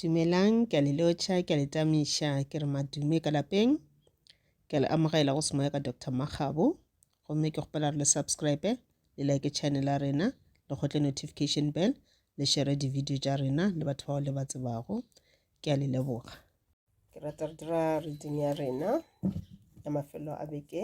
Dumelang, ke a le lotšha, ke a le tamiša, ke re madume ka lapeng. Ke a le amogela go semoya ka Doctor Makgabo. Gomme ke kgopela re le subscribe, le like channel ya rena, le kgotle notification bell, le shere di-video tša rena le batho bao le ba tsebago. Ke a le leboga. Ke rata re dira reading ya rena ya mafelo a beke.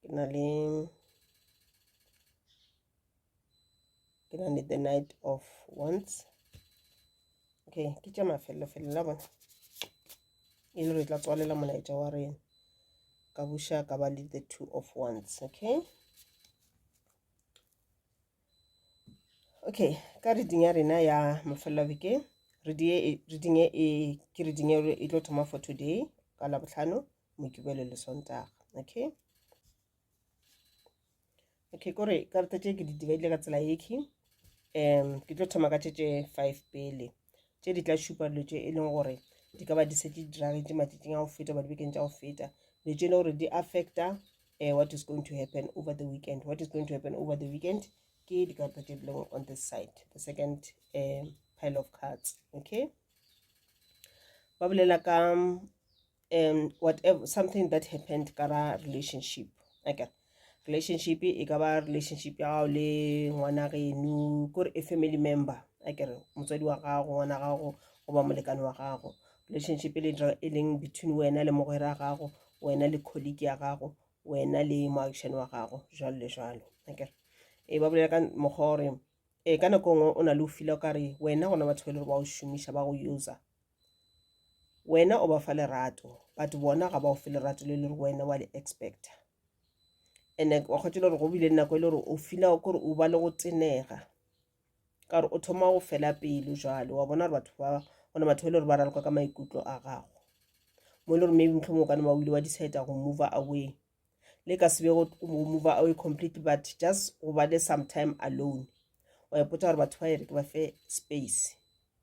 ke na le ke na le the night of once okay ke tša mafelelofele la bona e le re tla tswalela molaetša wa rena ka buša ka ba le the two of once okay okay ka reading ya rena ya mafelelo bekeng reading e, e ke reading e, e tlo thoma for today ka labotlhano mokibelo le sontaga okay okay kore karata tše ke di dibaile ka tsela yeke um ke tlo thoma ka tše tše five pele tše di tla šupa dilo tše e leng gore di ka ba di setse di diragetše matšatšing a go feta ba dibekeng tša go feta dilo tše e le gore di affecta uh, what is going to happen over the weekend what is going to happen over the weekend ke dikarata tše dileng on this side the second uh, pile of cards okay ba bolela ka um whatever something that happened ka ra relationship okay relationship e ka ba relationship ya gago le ngwana geno kore a family member a kere motswadi wa gago ngwana gago goba molekane wa gago relationship e le dira e leng between wena le mogwera gago wena le colleague ya gago wena le moagišane wa gago jalo le jalo akere e ba bolela ka mokgwa gore e ka nako ngwe o na le o fila o kare wena gona batho ba e le gore ba o šomiša ba go user wena o ba fa lerato but bona ga ba o fe lerato le le gore wena wa le expecta and wa kgwetse le gore go bile nako e le gore o fila kore o ba le go tenega ka gore o thoma go fela pelo jalo wa bona gore batho ba gona batho e le gore ba raloka ka maikutlo a gago mo e le gore maybe motlho mongwe kane ba wile wa decide go move away le ka sebe go move away completely but just go ba le sometime alone wa ipotsa gore batho ba ere ke ba fe space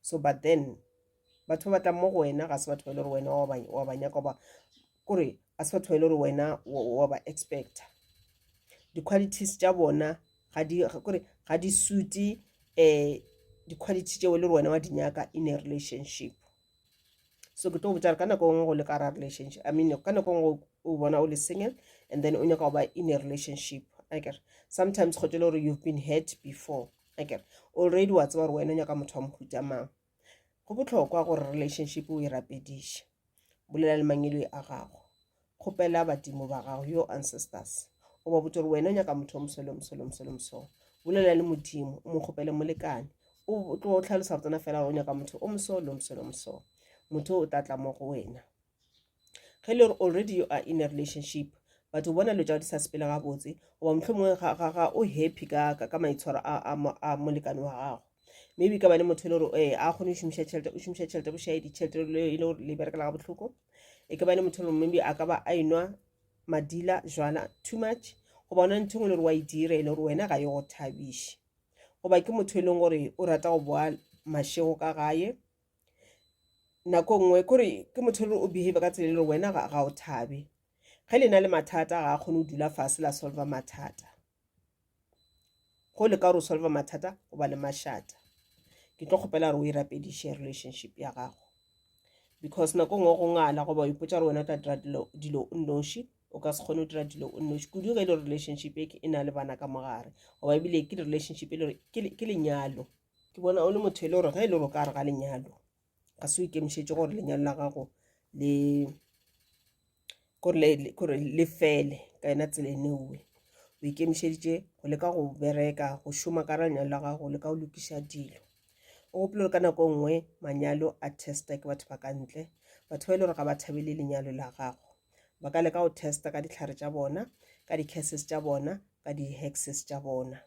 so but then batho ba batlang mo go wena ga se batho ba ile gore wena wa ba nyaka ba kore a se batho ba ile gore wena wa ba expecta di-qualities tša bona kore ga di sute um eh, di-quality tšeo e le gore wena wa di nyaka in a relationship so ke tlo botsa re ka nako ngwe go le ka ra relationship i mean ka nako ngwe o bona o le single and then o nyaka go ba in a relationship akere sometimes kgotse le gore you've been hurt before akere already wa tseba gore wena o nyaka motho wa mohuta mang go botlhokwa gore relationship o e rapediše bolela le mangelo a gago kgopela badimo ba gago yo ancestors o ba botse gore wena o nyaka motho o mosole mosole mosole mosole bolela le modimo o mo kgopele molekane o tlo tlhalosa go tsena fela o nyaka motho o mosole mosole mosole motho o tla tla mo go wena ge le gore already you are in a relationship but o bona dilo tša di sa sepele gabotse goba mohlomongwe ga o happy ka ka maitshwaro a molekane wa gago maybe ka bane motho e le gore ee eh, a kgone go šomiša tšhelete o šomiša tšhelete bošae ditšhelete e le gore le berekela ga bohloko e ka bane motho e le gore maybe a ka ba a enwa madila jwana too much goba ona ntho e ngwe le gore wa e dira e le gore wena ga e go thabiše goba ke motho e leng gore o rata go boa mašego ka gae nako nngwe kore ke motho e le o behave ka tsela e le gore wena ga o thabe ge le na le mathata ga a kgone go dula fase la solva mathata go le ka gore o solva mathata o ba le mašata ke tlo kgopela gore o e rapediše relationship ya gago because nako nngwe go ngala goba o ipotsa gore wena o tla dira dilo o nnoši o ka se kgone go dira dilo o nnoši kudu ge e le relationship e e na le bana ka mogare goba ebile ke relationship e le gore ke lenyalo ke bona o le motho e le gore ge e le gore o ka re ga lenyalo ga se o ikemišetše gore lenyalo la gago le gore le fele ka yona tsela eneowe o ikemišeditše go leka go bereka go šoma ka lenyalo la gago le ka go lokiša dilo o gopole gore ka nako e nngwe manyalo a testa ke batho ba ka ntle batho ba e le gore ga ba thabele lenyalo la gago ba ka leka go testa ka ditlhare tša bona ka di-cases tša bona ka di-hexes tša bona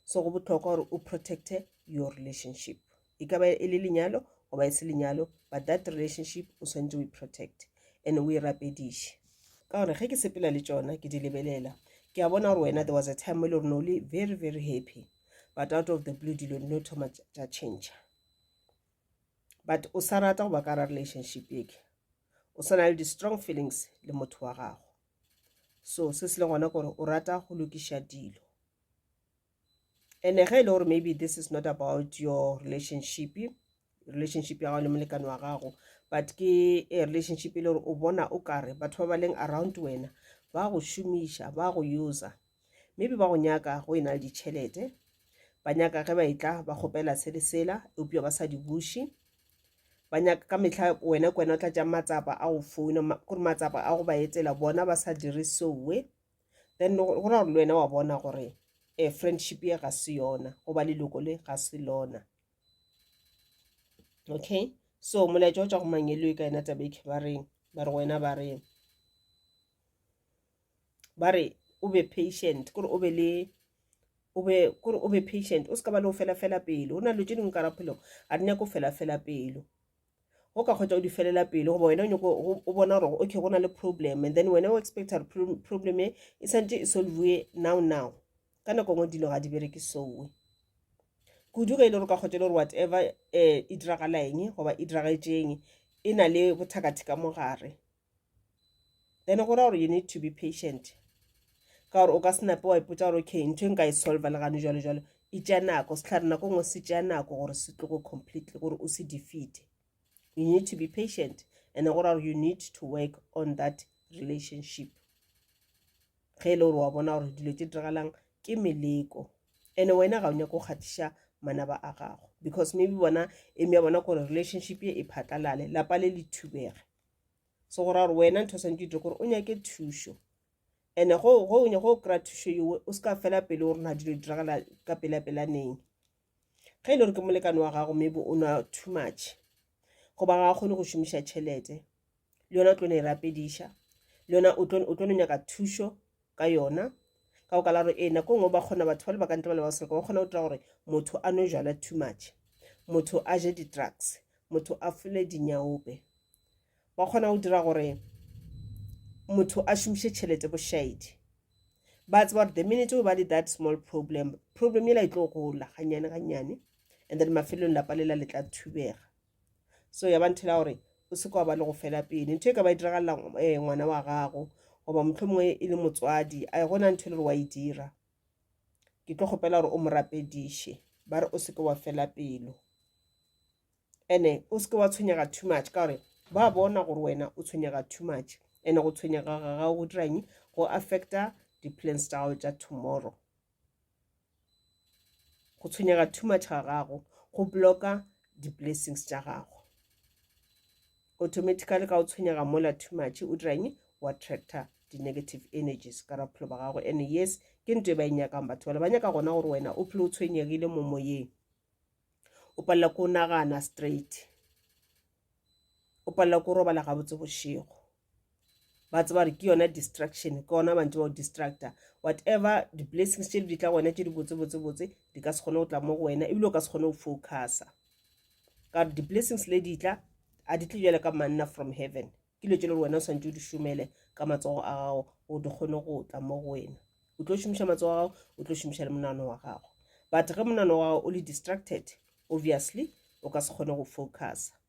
so go bohlokwa gore o protecte your relationship e ka ba e le lenyalo goba e se lenyalo but that relationship o swanetse o e protect and o e rapediše ka gore ge ke sepela le tšona ke di lebelela ke a bona gore wena there was a time mo e le gore no le very very happy but out of the blue dilo no thoma tša change but o sa rata goba ka ra relationship eke o sa na le di-strong feelings le motho wa gago so se se le gona gore o rata go lokiša dilo ene ge e le gore maybe this is not about your relationship relationship ya gago le molekane wa gago but ke a relationship e le gore o bona o kare batho ba ba leng around wena ba go šomiša ba go user maybe ba go nyaka go e na le ditšhelete ba nyaka ge ba etla ba kgopela se le sela eupša ba sa di buše ba nyaka ka mehla wena ke wena o tla tšang matsapa a go founa kore matsapa a go ba etela bona ba sa dire sowe then go ra gore le wena wa bona gore um friendship ye ga se yona goba leloko le ga se lona okay so molaetša o tša go mangelo e ka yena taba e ke ba reng ba re wena ba reng ba re o be patient kore o be le o be kore o be patient o se ka ba le go fela fela pelo o na le tše dingwe ka raphelong ga di nyako fela fela pelo go ka kgotsa o di felela pelo goba wena o nyako o bona gore okay go na le problem and then wena o expecta gore problem e e santse e solvue now now ka nako ngwe dilo ga di bereke soe kudu ge e le gore ka kgotsa e le gore whatever um e diragala eng goba e diragetšeng e na le bothakatheka mo gare then go ra gore you need to be patient ka gore o ka se nape wa ipotsa gore okay ntho e nka e solva le gane jalo jalo e tšea nako setlhare nako ngwe se tšea nako gore se tlogo completely gore o se defeate you need to be patient and go ra gore you need to work on that relationship ge e le gore wa bona gore dilo tse diragalang ke meleko and wena ga o nyako kgatiša manaba a gago because maybe bona eme ya bona gore relationship ye e phatlalale lapa le le thubege so go ra gore wena ntho o santse itire gore o nyake thušo ande go go nya go kry-a thušo yowe o se ka fela pele gore na dilo diragala ka pela pelaneng ge e le gore ke molekane wa gago maybe o nwa too much goba ga a kgone go šomiša tšhelete le yona o tlo ne e rapediša le yona o tlo nyaka thušo ka yona ka go kala gore ee nako nngwe ba kgona batho ba le bakante ba le basereka ba kgona go dira gore motho a nwe jala too much motho a je di-drugs motho a fole dinyaope ba kgona go dira gore motho a šomiše tšhelete bošaedi ba tseba gore the minute o ba le that small problem problem ela e tlo gola ganyane ganyane and then mafelelong lapa lela le tla thubega so ya ba nthela gore o se kwa ba le go fela pele ntho e ka ba e diragalela eh, ngwana wa gago goba motlho mongwe e le motswadi a e gona ntho e le gore wa e dira ke tlo kgopela gore o mo rapediše ba re o seke wa fela pelo ene o seke wa tshwenyega too much ka gore ba bona gore wena o tshwenyega too much ene go tshwenyega ga gago go dirang go affecta di-plans tsa gago tsa tomorrow go tshwenyega too much ga gago go blocka di-blessings tša gago automatically ka o tshwenyega mola too much o dirang o attractor di-negative energies ka ra bophelo ba gago and yes ke nto e ba e nyakang batho bale ba nyaka gona gore wena o phele o tshwenyegile mo moyeng o palela ko o nagana straight o palela ko o robala gabotse bošego ba tseba gore ke yona distraction ke ona mantse ba o distracta whatever di-blessings tše di tla go wena tše di botsebotsebotse di ka se kgone go tla mo go wena ebile o ka se kgone go focusa ka gore di-blessings le di tla a di tle jale ka manna from heaven ke dilo tše le gore wena o swantse o di šomele ka matsogo a gago o di kgone go tla mo go wena o tlo šomiša matsogo a gago o tlo šomiša le monano wa gago but ge monano wa gago o le distracted obviously o ka se kgone go focusa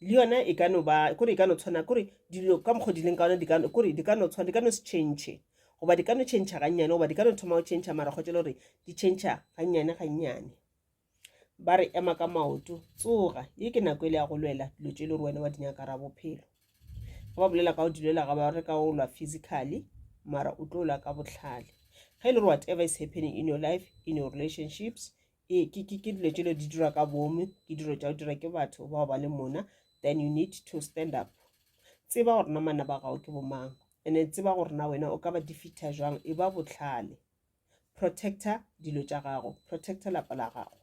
le yona e ka no ba kore e ka no tshwana kore dilo ka mokgwa di leng ka ona kore di ka no tshwana di ka no se change goba di ka no change gannyane goba di ka no thoma go change mara kgotse le gore di change gannyane gannyane ba re ema ka maoto tsoga ye ke nako e le ya go lwela dilo tse e le gore wena wa di nyaka ra bophelo ga ba bolela ka go di lwela ga ba re ka go lwa physically mara o tlo lwa ka botlhale ga e le gore whatever is happening in your life in your relationships ee ke ke ke dilo tšelo di dirwa ka boomo ke dilo tša go dira ke batho bao ba le mona then you need to stand up tseba gore na mana ba gago ke bomang ene tseba gore na wena o ka ba defeata jwang e ba botlhale protector dilo tša gago protector lapa la gago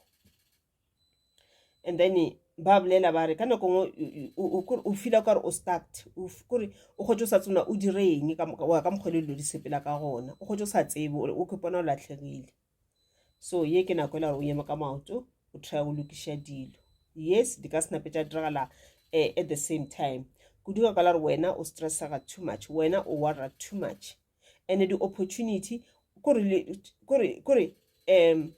and then ba bolela ba re ka nako ngwe o fila kare o start kore o kgotse o sa tsona o dire eng ka mokgwa le dilo di sepela ka gona o kgotse o sa tsebe o ke pona o latlhegile so ye ke nako e la gore o eme ka maoto o try go lokiša dilo yes di ka senape tša diragala eh, at the same time kudu ka ka la gore wena o stressaga too much wena o warra too much and di-opportunity kore um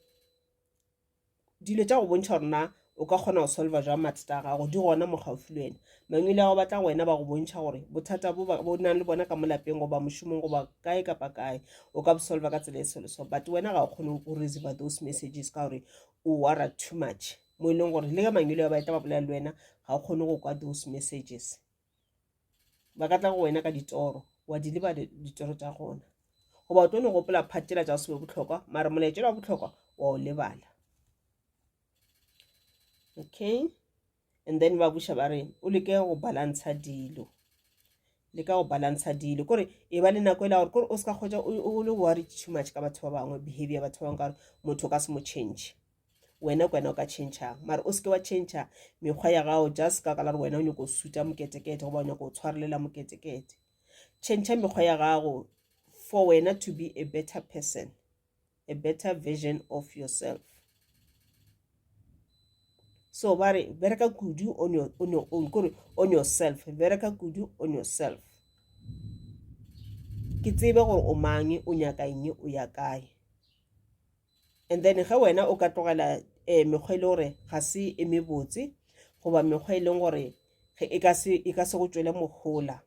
Dilo tša go bontšha gore na o ka kgona go solva jwang mathata a gago di gona mo gaufi le wena. Mangwele a go batla go wena ba go bontšha gore bothata bo bo nang le bona ka mo lapeng goba mošomong goba kae kapa kae o ka bo solva ka tsela e so le so but wena ga o kgone go receiver those messages ka gore o wara too much mo e leng gore le ge mangwele a ba etla ba bolela le wena ga o kgone go kwa those messages. ba ka tla go wena ka ditoro wa di leba ditoro tša gona goba o tlo no gopola phathela tša go sebe botlhokwa mara molaetšelo wa botlhokwa wa o lebala okay and then ba buša ba re o leke go balantsha dilo le ka go balantsha dilo kore e ba le nako e la gore kore o se ka kgwetsa o le worry too much ka batho ba bangwe behavior batho ba bangwe ka gore motho o ka se mo change wena ke wena o ka tšhentšhang mare o seke wa tšhentšha mekgwa ya gago just ka ka la re wena o nyako go suta moketekete goba o nyako go tshwarelela moketekete tšhentšha mekgwa ya gago for wena to be a better person a better version of yourself so ba re bereka kudu on your, on your own kore on yourself bereka kudu on yourself ke tsebe gore o mang o nyaka eng o ya kae and then ge wena o ka tlogela um mekgwa e le gore ga se e mebotse goba mekgwa e leng gore e ka se e go tšwele mohola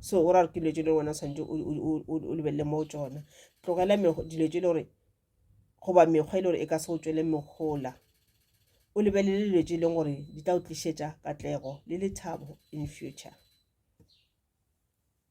so o ra re ke dilo tse le wena tshwanetse o lebelele mo tsona tlogela dilo tse le gore goba mekgwa e le gore e ka se go tšwele megola o lebelele dilo tse e leng gore di tla o tlišetša katlego le lethabo in future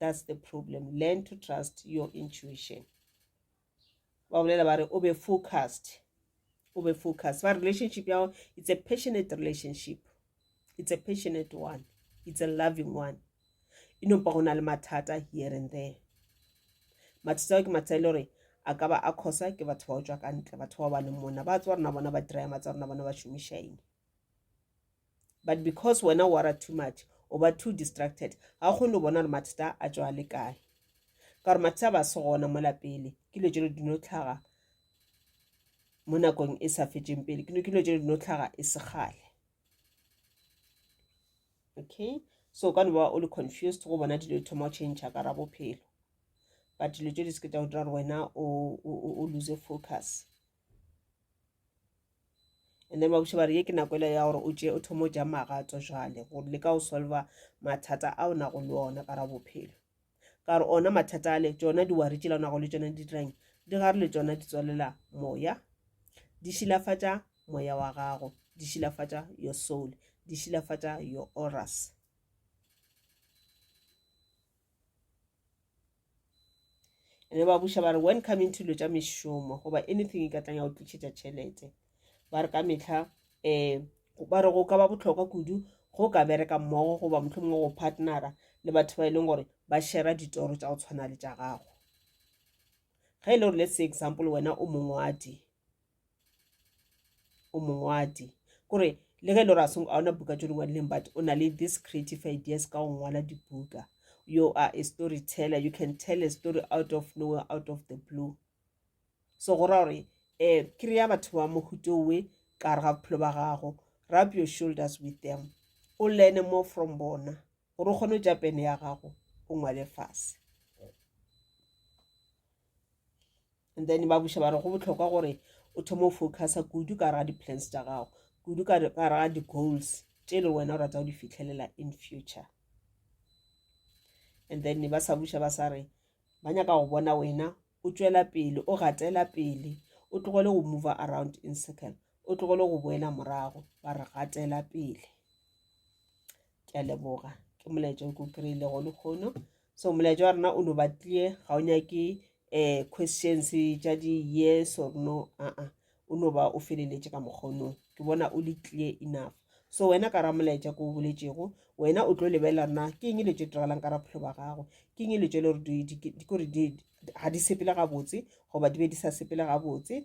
that's the problem learn to trust your intuition ba bolela ba re o be focused o be focused ba relationship ya gago it's a passionate relationship it's a passionate one it's a loving one e nompa go na le mathata here and there mathata ao ke mathata e le gore a ka ba a khosa ke batho ba o tswa ka ntle batho ba ba leng mona ba tswa rona bona ba diraya matsa rona bona ba šomišaeng but because wena o wara too much o ba too distracted ga o kgone go bona gore mathata a tswa a le kae ka gore mathata ba se gona mo lapele ke dilo tse di dino tlhaga mo nakong e sa fetseng pele ke dilo tse di dino tlhaga e se gale okay so ka no ba o le confused go bona dilo thoma go change ka ra bophelo but dilo tse di se ke tsa go dira gore wena o lose focus and then ba buša ba re ye ke nako ele ya gore o tšee o thoma o ja magato jale gore le ka go solva mathata a o nago le ona ka ra bophelo ka re ona mathata ale tsona diwari tšela o nago le tsona di dirang di gare le tsona di tswalela moya di šilafatša moya wa gago di šilafatša your soul di šilafatša your oras ene ba buša ba re when coming to lo tša mešomo goba anything e ka tlang ya go tlišetša tšhelete ba re ka metlha um ba re go ka ba botlhokwa kudu go ka bereka mmogo goba motlho mongwe go partnera le batho ba e leng gore ba shera ditoro tša go tshwana le tša gago ge e le gore let's say example wena o mongwadi o mongwadi kore le ge e le gore a seng a ona buka tse di ngwadileng but o na le this creative ideas ka go ngwala dibuka you are a story teller you can tell a story out of nowhere out of the blue so go ra gore um kry-a batho ba mohutowe ka re ga bophelo ba gago rub your shoulders with them o learne more from bona gore o kgone go ja pene ya gago o ngwale fase and then ba buša ba re go botlhokwa gore o thoma o focusa kudu ka raga di-plans tša gago kudu ka raga di-goals tše e le wena o rata go di fitlhelela in future and then ba sa buša ba sa re ba nyaka go bona wena o tšwela pele o gatela pele o tlogele go move around in circle o tlogele go boela morago ba re gatela pele ke a leboga ke molaetša o ke o kry-ile go lekgono so molaetša wa rena o no batlie ga o nyake um questions tša di-yes or no aa o no ba o feleletše ka mokgonong ke bona o le clear enough so wena ka ra molaetša ko o boletšego wena o tlo lebelela na ke eng le tše diragalang ka raphelo ba gago ke eng le tše le gore ga di sepele gabotse goba di be di sa sepele gabotse